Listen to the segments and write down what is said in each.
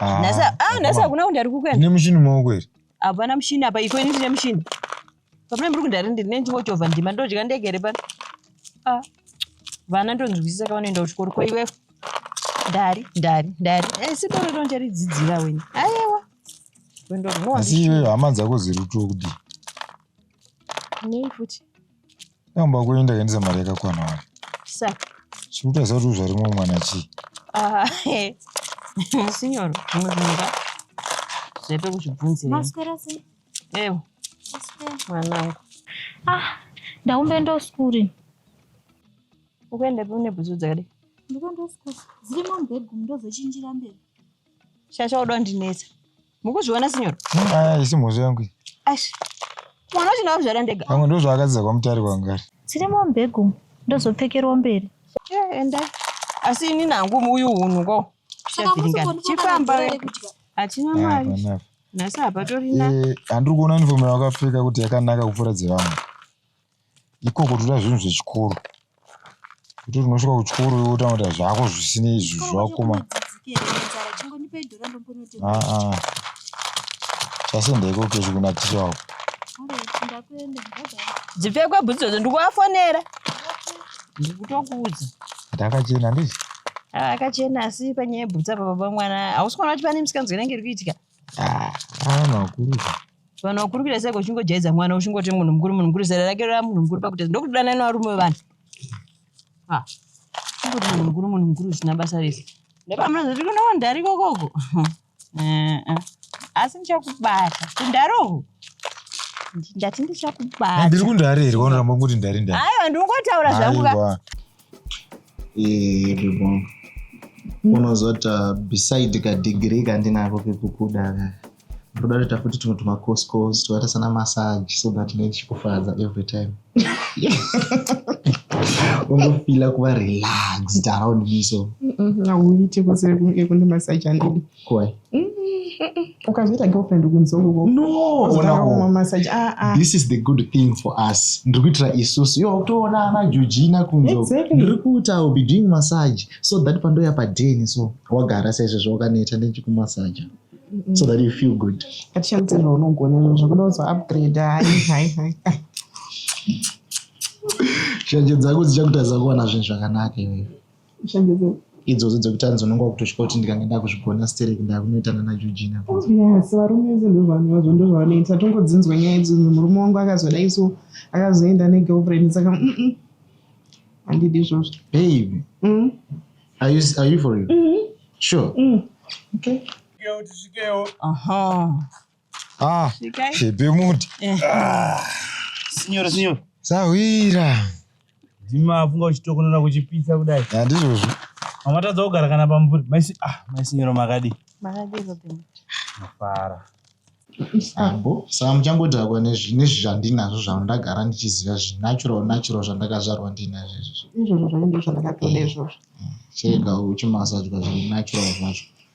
Ah, nhasi ah, nhasi hakuna kundi ari kukuenda ne mushini maoko here hapana mushini apa iko ini ndine mushini papana muri kundari ndiri nenchingochovha ndima ndodya ndege here pano ah, vana ndonzwisisa ka vanoenda kuchikoro ko iwefo ndari ndari ndari eh, sindoro tonja ridzidzira weni ayewa asi iweyo hama dzako ziri kutokudii nei futi Namba kwenyu ndakaendesa mari yakakwana wani. Sa. Chikutaza kuti zvarimwe mwana chii? Ah, eh. Signor, muzimba. Zvepe kuchibvunzira. Maswera si. Ewo. Maswera. Mwanangu. Ah, ndaumbeenda kuskuri. Ukuenda pe une bhutsu dzakadai? Ndikuenda kuskuri. Dzirimo mubhedroom ndozochinjira mberi. Shasha uda ndinetsa. Mukuzviona sinyoro? Aya isi mhozvo yangu. Ash. Mwana wacho ndakuzvara ndega. Pamwe ndozvo akadziza kwa mutari wangu ari. Tsiri mo mbegu ndozopfekerwa mberi. Yeah, enda. Asi ini nangu uyu hunhu ko. Chifamba. Achina ah, mari. Nasa hapa torina. Eh, andiri kuona uniform yakapfeka kuti yakanaka kupfura dzevamwe. ikoko toda zvinhu zvechikoro kuti unosvika kuchikoro iwe otanga kuita zvako zvisinei izvi zvakoma aa chasenda ikoko kechi kuna ticha wako dzipfekwe bhutsu dzodzo ndikuvafonera ndikutokuudza ndakachena ndizi akachena asi panyaya yebhutsa pababa mwana hausi kuona kuti pane misikanzwa inenge iri kuitika Ah, vanhu vakuru izvo. vanhu vakuru kuita seko uchingojaidza mwana uchingoti munhu mukuru munhu mukuru zera rake rava munhu mukuru pakutadza ndokudana nevarume vevanhu Ah, uchingoti munhu mukuru munhu mukuru zvisina basa rese nepamunozoti kune wandari kokoko Eh, eh. asi ndichakubata kundari uku Ndi- ndati ndichakubata Ndiri kundari here kwanoramba kuti ndari ndari. aiwa ndingotaura zvangu ka Aiwa. Iririmo. Unozoti uh, beside kadegree kandinako kekukuda ka. Ndoda kuita futi tumwe tumacourse course twakaita sana massage so that ndinenge ndichikufadza every time. Ungofila kuva relaxed around me so. Hauite kuseri kunge kune massage andidi. Why? ukazoita girlfriend ukunzoko No, ona wo. kumamasaji aa This is the good thing for us. Ndiri kuitira isusu. Yo, toona ana Georgina kunzo. Exactly. Ndiri kuti I will be doing massage so that pandoya pa den so wagara saizvozvo wakaneta ndichikumasaja. So that you feel good. atishandise zvaunogona izvo zvakuda kuzo upgrade hai hai hai Shanje dzako dzichakutadza kuwana zvinhu zvakanaka iwewe. idzodzo dzekuti hanzi unonga kutosvika kuti ndikange ndakuzvigona sterek ndakunoitana najojina yes varume vese ndovanhu vazvo ndozvavanoita tongodzinzwa nyaya idzo murume wangu akazodai so akazoenda negirlfriend saka handidi izvozvo babe mm. are you, are you for real mm -hmm. sure mm. okay. Aha. Ah, Svikai. Pepe muti. Eh. Ah, Signore, signore. Sahwira. Ndima afunga uchitokonora kuchipisa kudai. Handizvozvo. Mamatadza kugara kana pamvuri. Maisi ah, maisinyoro makadi. Makadi Robin. Mafara. Ambo, saka muchangodhakwa nezvinhu zvandinazvo zvandagara ndichiziva zvinatural natural zvandakazvarwa ndinazvo izvozvo. Izvozvo zvainge zvandakatoda izvozvo. Chega uchimasadya zvinatural zvacho.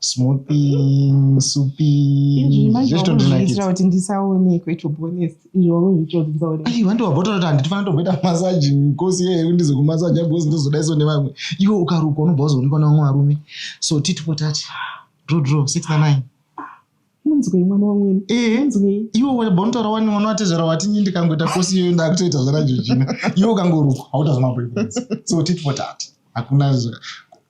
smoothing supi zvechitondinakidza kuti ndisaonekwe to be honest izvo wazvichoti ndisaonekwe ai wandi wabota kuti handitifanira tomboita massage kosi yeye kuti ndizokumassage because ndozodaiso nevamwe iwe ukarukwa unobva wazoonekwa nevamwe varume so titi potati draw draw six na nine munzwei mwana wamwene eh, munzwei iwe wabontora wani mwana watezvara wati nyi ndikangoita kosi iyoyo ndakutoita zvaranjojina iwe ukangorukwa hautazomaboi so titi potati hakuna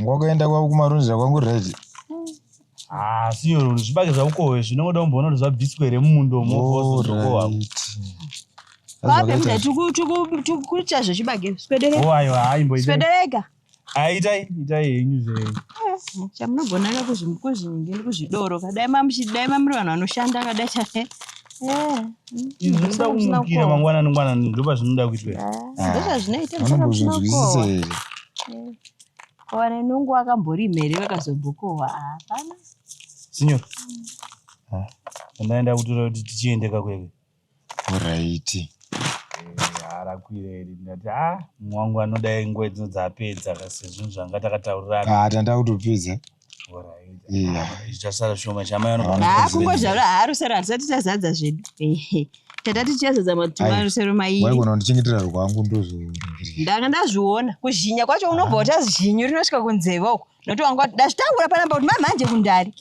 Ngwakaenda kwavo kumarunzira kwangu right. Ah, siyo zvibage zvakukowe zvinongoda kumboona kuti zvabviswa here mumundo mokowapo. Vape mda tikukucha zvechibage swedereka. Oh ayo haimbo. Swedereka. Aitai ah, itai henyu zve. Eh, Chamunogona ka kuzvinge kuzvidoro kadai mamuchidai mamuri vanhu vanoshanda kadai chane. zvinoda kumukira mangwanani ngwanani ndopa zvinoda kuitwa ndozvazvinoitaanozvizwisisa here wane nungu wakambori mhere vakazombokohwa hapana sinyo andaenda kutora kuti tichiende kakweve oraiti arakwireri ndati a mwangu anoda nguva dzino dzaapedza kasezvinhu zvanga takataurirana ah, tanda kutopedza kungozvarwa haarusero hatisati tazadza zvedu tata tichazadza matumarusero maiwaigona kundichengetera rwangu ndozondanga ndazviona kuzhinya kwacho unobva wata zhinyu rinosvika kunzeve uko nokuti wanga ndazvitaura panamba kuti mamhanje kundari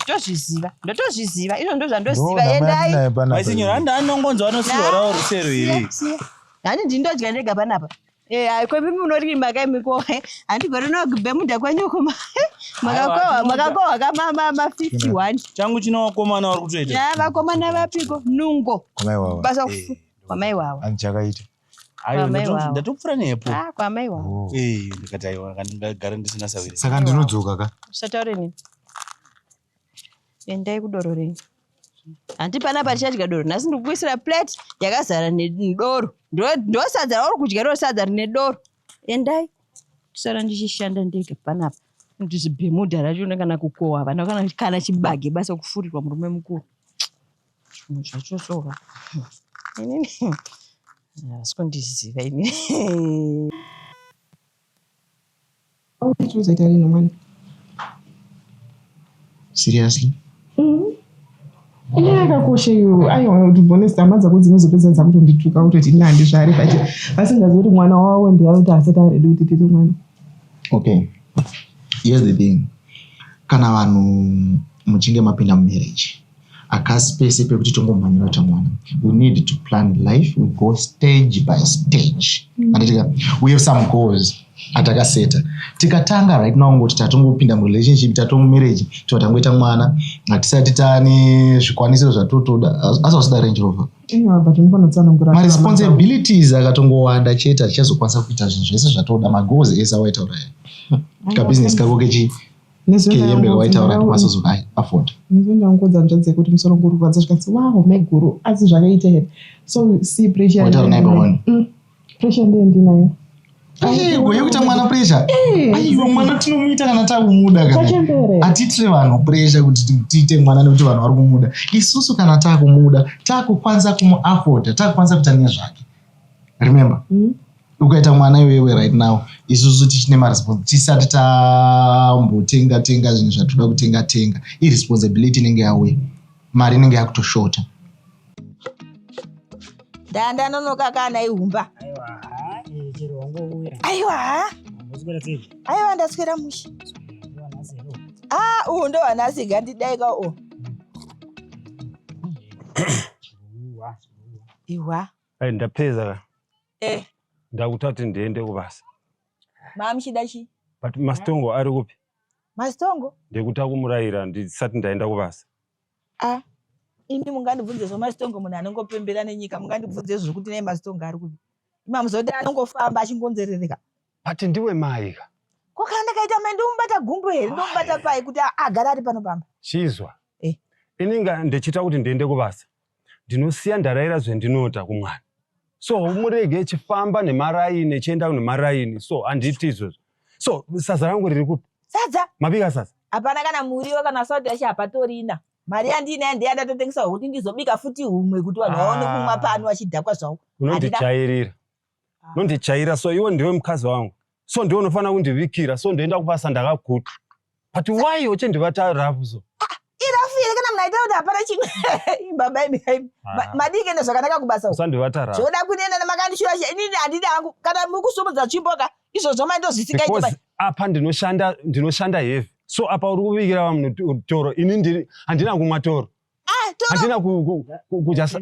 ndotozviziva ndotozviziva izvo ndo zvandoziva endai maisinyo handi anongonzwa anosiwarawo rusero iri handi ndindodya ndega panapa Eh, ah, kwepi munorimba ka imi ko eh, handigoni nogbe muda kwenyu uko ma- makakohwa makakohwa ka ma- ma- ma 51 changu chino wakomana wari kutoita ya vakomana vapiko nungo Amai wawa. basa kufu Eh, kwamai wawa Ani chakaita. ayo Amai ndato- wawo. ndatopfura nepo ah kwamai wawa Oh. Eh, ndikati aiwa kana ndingagara ndisina sawiri Saka ndinodzoka ka. usataure nini Endai kudoro renyu. Hanti pana patichadya doro nhasi ndikukuisira plate yakazara nedoro. Ndosadza rauri kudya riro sadza rine doro. Endai. Kusara ndichishanda ndega panapa. Ndizibhemuda racho kana kukowa vana kana kana chibage basa kufurirwa murume mukuru. Zvinhu zvacho sova. Inini. Asi kundiziva inini. Unozoita rinhi mwana? Seriously? Mm. Ine yakakosha iyo aiwa to be honest hama dzako dzinozopedza dzakutondituka kutoti ine handizvare but vasingazivi kuti mwana wavo ndiakuti asati aredi kuti tete mwana. Okay. Here's the thing. Kana vanhu muchinge mapinda mumarriage akasi pese pekuti tongomhanyira ta mwana we need to plan life we go stage by stage mm. anditika we have some goals atakaseta tikatanga right now ngoti tatongopinda murelationship tatomumarriage tova tangoita mwana hatisati tane zvikwanisiro zvatotoda asi vasida range rover maresponsibilities akatongowanda chete atichazokwanisa kuita zvinhu zvese zvatoda magoals ese awaitauraya kabusiness kako kechi nezvehembe waitaura kuti masozoka afford nezvendangoudza hanzvadzi yekuti musoro nguri kurwadza zvikanzi wa home guru asi zvakaita here so si pressure waitaura naye pahoni mm. pressure ndiye ndinayo wekuita mwana presha aiwa mwana tinomuita kana takumuda kanaatiitire vanhu presha kuti tiite mwana nekuti vanhu vari kumuda isusu kana takumuda takukwanisa kumuafoda takukwanisa kuita nezvake remember mm. ukaita mwana iwewe right now isusu tichine maresponsi tisati tambotenga tenga zvinhu zvatoda kutenga tenga iresponsibility inenge yauya mari inenge yakutoshota ndandanonoka kana ihumba aiwa aiwa ndaswera mushe a ah, uhu ndo hanasi gandidaika u ihwa Ai ndapedza ka. Eh. Ndakuta kuti ndiende kubasa. Mama muchida chi? But Mastongo ari kupi? Mastongo? Ndikuta kumurayira ndisati ndaenda kubasa. Ah. Ini mungandibvunze zvo Mastongo munhu anongopembera nenyika mungandibvunze zvekuti nei Mastongo ari kupi? Mama muzoti anongofamba achingonzerereka. But ndiwe mai ka. Ko kana ndakaita mai ndomubata gumbo here? Ndomubata pai kuti agara ari pano pamba? Chizwa. Eh. Ini nga ndichita kuti ndiende kubasa. ndinosiya ndaraira zvendinota kumwana so murege chifamba nemaraini echienda nemaraini so handiti izvozvo so sadza rangu riri kupi sadza mabika sadza hapana kana muriwo kana salt yacho hapatorina mari yandiinayo ndeya ndatotengesawo kuti ndizobika futi humwe kuti vanhu vaone ah. kumwa pano vachidhakwa zvavo unondijairira nondijaira so iwe ndiwe mukadzi wangu so ndiwe unofanira kundivikira so ndoenda kubasa ndakaguta but why uchindibata rafu so irafu here kana munaita kuti hapana chimwe baba imi ah. madii kuenda zvakanaka kubasa usandibata rafu zvoda kunena nemakandishura inini handidi hangu kana mukusumudza chimboka izvozvo maindozvisikaita apa ndinoshanda ndinoshanda heavy so apa uri kuvikira vamwe toro ini handina kumwa toro ah, handina kujasa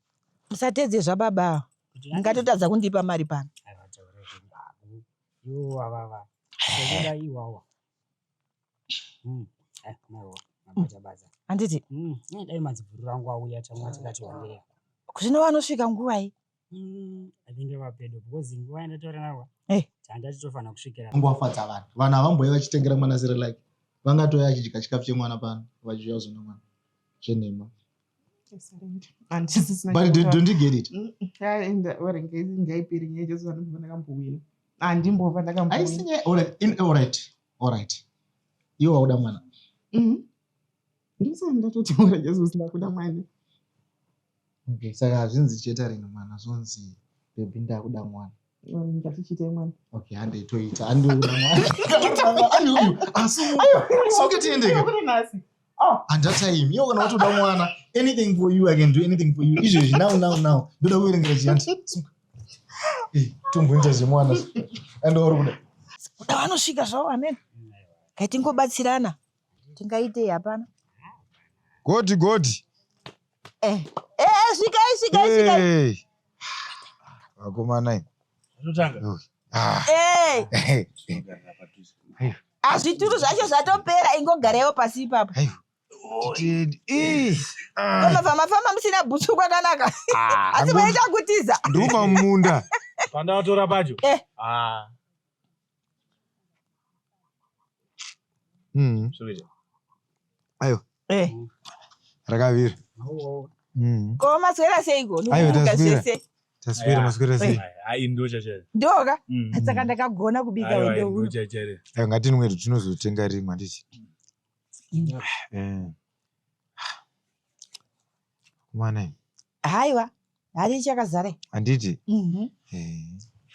Musatedze zvababa ava. Mungatotadza kundipa mari pano. Havataure zvembabvu. Iwo avava. Sekuda iwawa. Mm. Eh, maiwo. Mabata bata. Handiti Mm. Eh, dai madzibhuru rangu auya tamwa tikati wandeya. zvino vanosvika nguvai? Mm. I think ava pedo because nguva yandataura nawo. Eh. Tanga titofanira kusvikira. Kungwafadza vanhu. Vanhu havamboe vachitengera mwana zero like. Vangatouya achidya chikafu chemwana pano vachidya zona mwana. Zvenhema. iwe wauda mwana mm-hmm. ndisana ndatoti mwana jesu usina kuda mwana okay saka hazvinzi chetaringa mwana zvonzi bebi ndakuda mwana Okay, hande itoita hande uyu asisoke tiendeke handataim iyo kana watoda mwana anything for you i can do anything for you izvezvi now now now ndoda kuverengera chiyanti eh, tomboita zvemwana andowauri kuda kuda vanosvika zvavo amene kaitingobatsirana tingaitei hapana godi godi eh, eh, eh svikai svikai svikai Hey. vakomana imi. Zvinotanga. Ui. Ah. Eh, Hey. Tinogara padhuze. ah, zvituru zvacho zvatopera ingogaraiwo pasi ipapo Hey. Titende. Ih. Ah. pamafamba famba musina bhutsu kwakanaka Ah, asi Angu- maita kutiza nduma mumunda Pandatora pacho. Eh. Ah. Mm. Ayo. Eh. Rakavira. Mm. Ko maswera seiko? Ayo taswira. Taswira maswera sei? Ai ndo chachare. Ndoka. Mm. Saka ndakagona kubika wende huru. Ayo ngatinwe tinozotenga rimwe handiti. Mm. Eh. Mwana. Haiwa. Hari chakazare. Anditi. Mhm. Eh.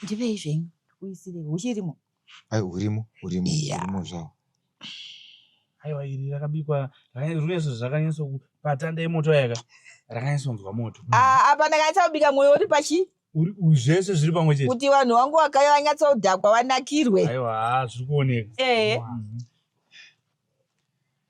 Ndivei zvenyu. Kuisire uchirimo. Ai urimo, urimo, urimo zvawo. Aiwa iri rakabikwa rinoiso zvakanyanyisa patanda yemoto yaka rakanyanyisonzwa moto. Ah, apa ndakanyatsa kubika mwoyo uri pachi zvese zviri pamwe chete kuti vanhu vangu vakaya vanyatsa kudhakwa vanakirwe. Aiwa zviri kuoneka. Eh. Mhm.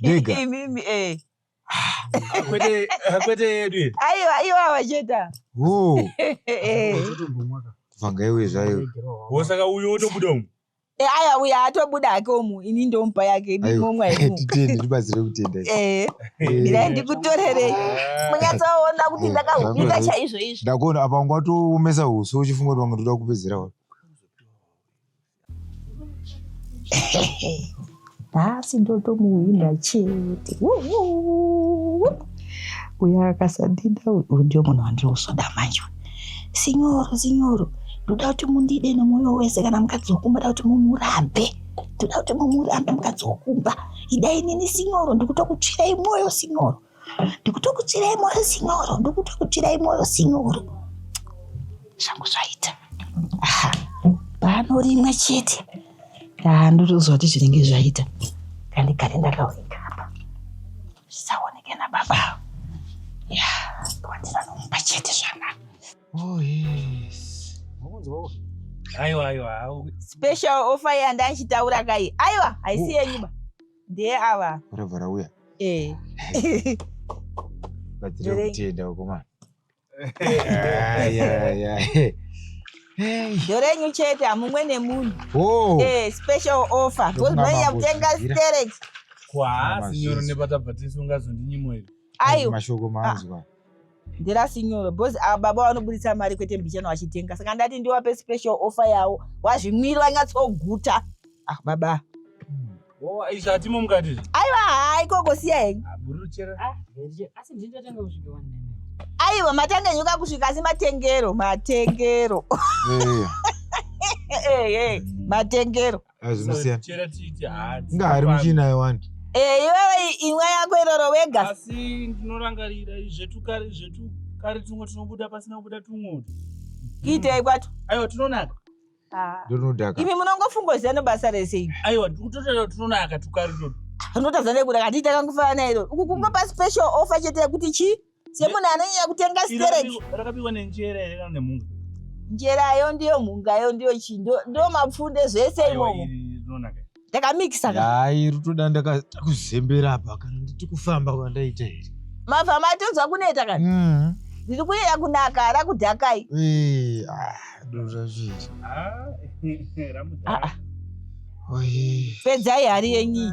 bigger imimi eh kwete kwete yedu ayo ayo avacheta oh eh vanga iwe zvayo wosaka uyo otobuda umu eh aya uya atobuda hake umu ini ndompa yake ndimomwa imu titende tibatsire kutenda eh ndira ndikutorere munyatsoona kuti ndakahupika chaizvo izvo ndakuona apa ngwatoomesa huso uchifunga kuti vanga toda kupedzera wani nhasi ndotomuhwinda chete uyo akasandida uyu ndio munhu wandiri kuzoda manje sinyoro sinyoro ndoda kuti mundide nemwoyo wese kana mukadzi wokumba da kuti mumurambe ndoda kuti mumurambe mukadzi wokumba idai nini sinyoro ndikutokutsvirai mwoyo sinyoro ndikutokutsvirai moyo sinyoro ndikutokutsvirai moyo sinyoro zvangu zvaita aha pano rimwe chete aa ndotoziva kuti zvinenge zvaita kandikare ndakaoneka apa zvisaoneke nababa ya kwandira nomupa chete zvanaka oh, aiwa aiwa special offer yandachitaura kai aiwa haisi yenyuba ndiye ava varabva rauya eh. batsira kutenda ukomana ndorenyu chete hamumwe nemunhu oh. eh, special offer because maiya kutenga sterek kwaasi nyoro nepatabva tisu ungazondinyimoiri aiwa mashoko maanzwa ah. ndirasi nyoro because ava baba vanoburitsa mari kwete mbichana vachitenga saka ndati ndiwape special offer yawo wazvimwiri vanyatsoguta ah baba oh, izvatimo mukati aiwa haa ikoko siya henyu ah, ah, aiwa matanga nyuka kusvika asi matengero matengero matengero ngahari muchina yewani eh, iwewe imwa yako iroro wega asi ndinorangarira zvetukari zvetukari tumwe tunobuda pasina kubuda tumwe kiitei kwacho aiwa tunonaka ah. ndonodaka imi munongofungoziva nebasa rese imi aiwa ndikutotaura tunonaka tukari toto unotadza nekuda kandii takangofanana iro uku kungapa special offer chete yekuti chii semunhu anonyanya kutenga stereki rakabikwa nenjera here kana nemhunga njerayo ndiyo mhungayo ndiyo chii ndo mapfunde zvese imomo ndakamikisa hai rutoda ndakuzembera apa kana nditi kufamba kwandaita here mabva matonzwa kuneta kana mm-hmm. ndiri kuyeya kunaka ara kudhakai ah, dozvazviri ah, ah, pedzai hari yenyi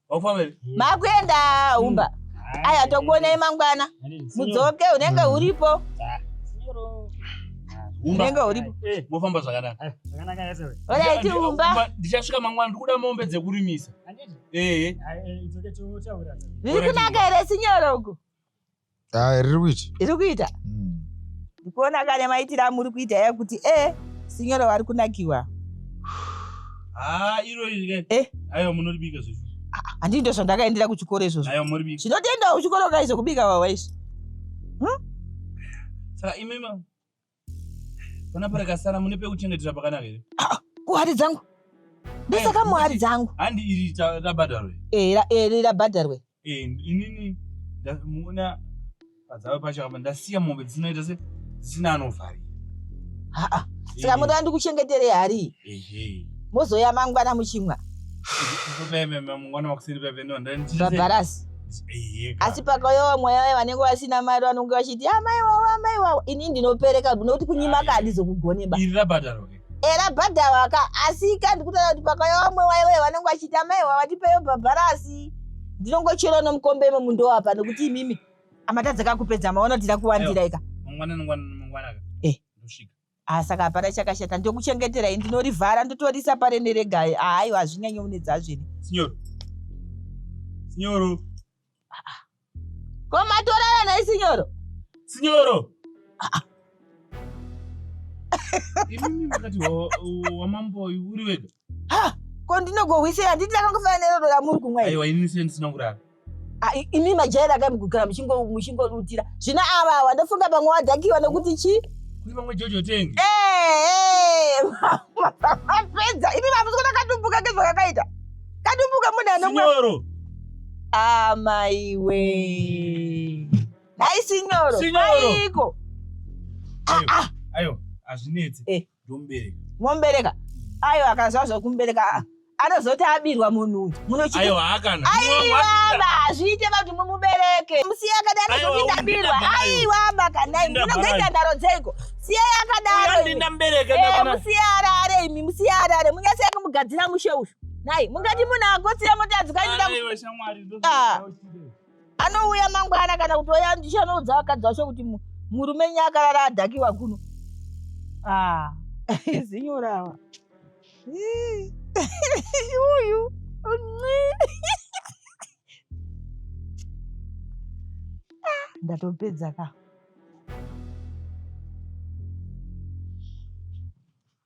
makuenda umba hmm. aya tokuonai mangwana mudzoke unenge hmm. uripo ah. unenge uripo eh, mofamba zvakadakaoraiti eh, umba ndichasvika mangwana ndikuda mombe dzekurimisa ehe eh, riri kunaka here sinyorogo ah, riri kuita iri kuita hmm. ndikuona kane maitira amuri kuita ya kuti e eh, sinyoro wari kunakiwa ah, iroyi eh. aiwa munoribika zvezvo ah, handii ndo zvandakaendera kuchikoro izvozvo zvinotoendawo kuchikoro kaizokubika wawa izvi hmm? saka imima Pana parakasara mune pekuchengetera pakanaka here? Ah, kuhari dzangu. Ndosaka eh, muhari dzangu. Handi iri rabhadharwe. Eh, iri eh, rabhadharwe. Eh, inini ndamuona padzava pacho apa ndasiya mombe dzinoita se dzisina anovharira. Ha ah, ah. Saka muda ndikuchengetere hari. mozouya mangwana muchimwa bhabharasi asi pakayowa mweya waye vanenge vasina mari vanenge vachiti amai wawo amai wawo ini ndinopereka nokuti kunyima ka handizokugoneba era bhadhawa ka asi ka ndikutaura kuti pakayowa mweya waye vaye vanenge vachiti amai wawo vatipeyo bhabharasi ndinongochera nomukombe imo mundowa pa nokuti imimi amatadza kakupedza maona tira kuwandira ika mangwana mangwana mangwana ka eh. ndosvika Ah saka hapana chakashata ndokuchengeterai ndinorivhara ndotoriisa parene regai ahaiwa ah, hazvinyanye unedza zvene. Sinyoro. Sinyoro. Ah, ah. Ko matorara nhai sinyoro? Sinyoro. Ah, ah. Imimi makati wamambo uri wega? Ha! Ko ndinogohwisei handiti ndakangofanira nerodo ramuri kumwa. Aiwa ini sendisina kurara. Ah, imi majaira akamugara muchingodutira zvino ava awa ndofunga pamwe wadhakiwa nekuti chi kuri pamwe jojo tengi eh, eh, mapedza imi mamusikuona katumbuka kezvakakaita katumbuka mune anomworo amaiwe nhai sinyoro aiko ayo hazvinetsi eh. momubereka ayo akaziva zvekumubereka aa anozoti abirwa munhu uyu munoaiwaba hazviite kuti mumubereke musiye akadaro zvokuti ndabirwa aiwaba kanai munozoita ndaro dzeiko siyai akadaromusiye eh, arare imi musiye arare munyasei kumugadzira mushe uyu nai mungati munhu akotsire motadzi kainda anouya mangwana kana kuti oya ndichanoudza vakadzi vacho kuti murume nye akarara adhakiwa kuno ah, zinyorawa uyu ndatopedza ka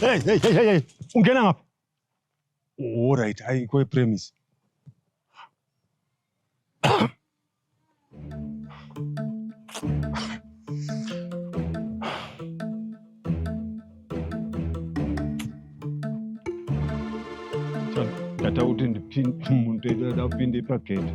Hey, hey, hey, hey, hey. Ungena ngapha. All right, hayi kwe premise. Ndata kuti ndipinde muntu edu adapinde pagate.